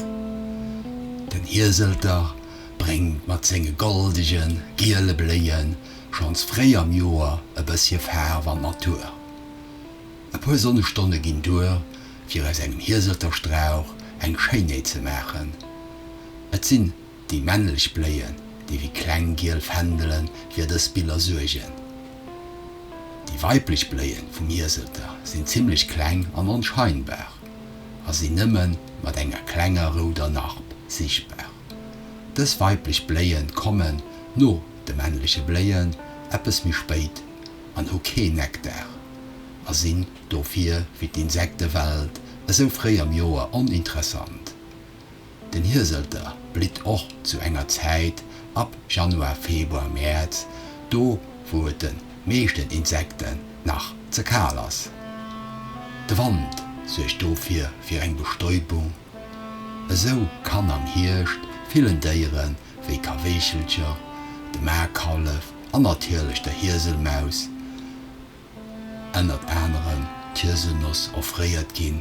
Den Hieselter bréngt mat senge goldege giele Bléie schonns fréi am Joer e bëssche Faarf an d'Natur. E puer Sonnestonne ginn duer, fir aus engem Hieselterstrauch eng Schéinheet ze maachen. Et sinn déi männlech Bléien, déi wéi kleng giel Fändele fir dës Biller suergen. Déi weiblech Bléie vum Hieselter sinn zimmlech kleng an onscheinbar. a sinn nëmme mat enger klenger rouder Narb sichtbar. Dës weiblech Bléie kommen no de männleche Bléien eppes méi spéit an hu keen Nektar a sinn dofir fir d'Insektewelt esou fréi am Joer oninteressant. Den Hieselter blitt och zu enger Zäit ab Januar, Februar, Mäerz, do wou et de meeschten Insekten nach ze kal ass. De Wand suergt dofir fir eng Bestäubung. Esou kann am Hierscht villen Déiere wéi Kaweechelcher, de Maarkallef an natierlech der Hieselmaus ënnert anerem d'Hieselnoss offréiert ginn.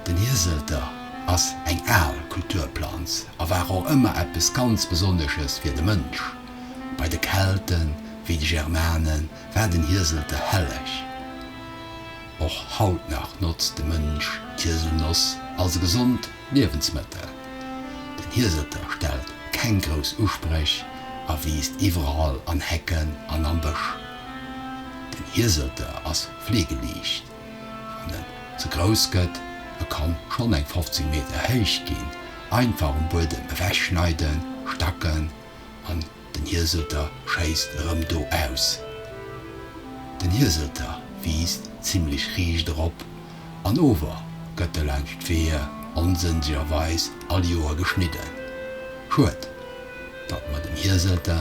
Den Hieselter ass eng al Kulturplanz a war och ëmmer eppes ganz Besonnesches fir de Mënsch. Bei de Kelten, wéi de Germanen, war den Hieselter helleg. Och haut nach notzt de Mënsch d'Hieselnoss als e gesond Liewensmëttel. Den Hieselter stellt keng grouss Uspréch a wiisst iwwerall an Hecken an am Bësch. Den Hieselter ass fleegeliicht. Wann en ze grouss gëtt, e kann schonn eng 15 Meter héich ginn, einfach um Buedem ewechschneiden, stacken an den Hieselter schéisst erëm do aus. Den Hieselter wiisst zimmlech riicht erop an ower gëtt e laanscht d'Weeë onsënnlegerweis all Joer geschnidden. Schued, datt mer dem Hieselter